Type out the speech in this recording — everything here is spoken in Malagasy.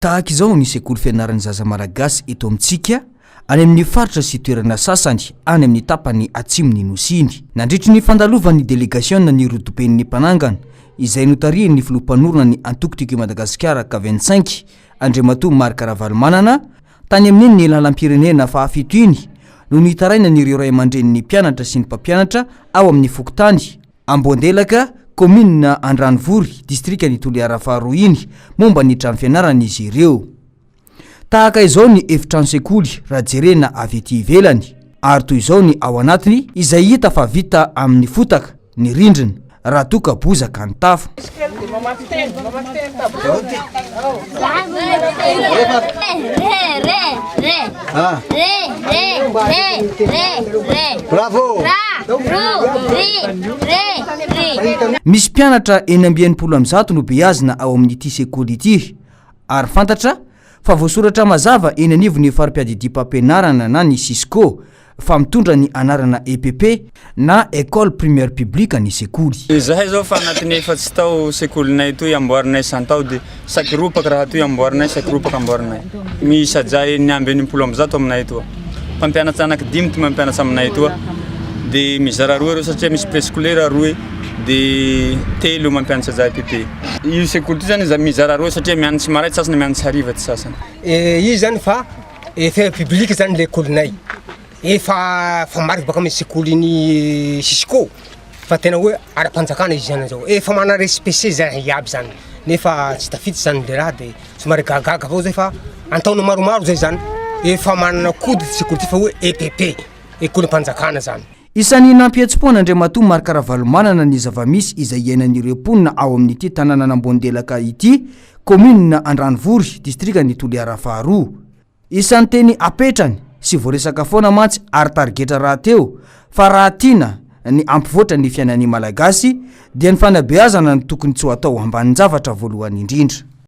Tahaka izao ny sekoly fianaran'ny zaza malagasy eto amintsika, any amin'ny faritra sy toerana sasany any amin'ny tapany atsimon'ny Nosy iny. Nandritry ny fandalovan'ny delegasiona ny rodoben'ny Mpanangana, izay notarihin'ny filoha mpanorina ny Antoko Tiako I Madagasikara ka vingt cinq, Andriamatoa Marc Ravalomanana, tany amin'iny lalam-pirenena fahafito iny, no nitarainan'ireo ray aman-drenin'ny mpianatra sy ny mpampianatra ao amin'ny fokontany, Amboandelaka, kaominina Andranovory, distrikan'i Toliara faharoa iny, momba ny trano fianarana izy ireo. Tahaka izao ny efitrano sekoly raha jerena avy ety ivelany, ary toy izao ny ao anatiny izay hita fa vita amin'ny fotaka ny rindrina, raha toa ka bozaka ny tafo. Misy mpianatra enina amby enimpolo amin'ny zato no beazina ao amin'ity sekoly ity ary fantatra Fa voasoratra mazava eny anivon'ny fari-piadidiam-pampianarana na ny Cisco fa mitondra ny anarana EPP na Ecole Primaire Publique ny sekoly. Izahay zao fa anatin'ny efatsy tao sekolinay toy amboarinay isan-tao de saky ropaka raha toy amboarinay saky ropaka amboarinay. Miisa jahy enina amby enimpolo amby zato aminay etoa. Mpampianatra anaky dimy ty mampianatra aminay etoa de mizara roa reo satria misy prescolaire roe. de telo mampianatra zah aty de. Io sekoly ty zany mizara roa satria mianatry maraina sasany mianatry hariva ty sasany. Eh io zany fa efa public zany lekolinay efa fa marika baka amy sekolin'i cisco fa tena hoe ara-panjakana izy zany zao efa mana respect zany iaby zany nefa tsy tafiditra zany le raha de somary gagaga avao zay fa an-taona maromaro zay zany efa manana code ty sekoly ty fa hoe epp, ekolm-panjakana zany. Isan'ny nampihetsi-po an'Andriamatoa Marc Ravalomanana ny zava-misy izay iainan'ireo mponina ao amin'ity tanànan'Ambohondelaka ity, kaominina Andranovory, distrikan'i Toliara faharoa. Isan'ny teny apetrany sy voaresaka foana mantsy ary tarigetra rahateo fa raha tiana ny hampivoatra ny fiainan'ny Malagasy dia ny fanabeazana no tokony tsy ho atao ambanin-javatra voalohany indrindra.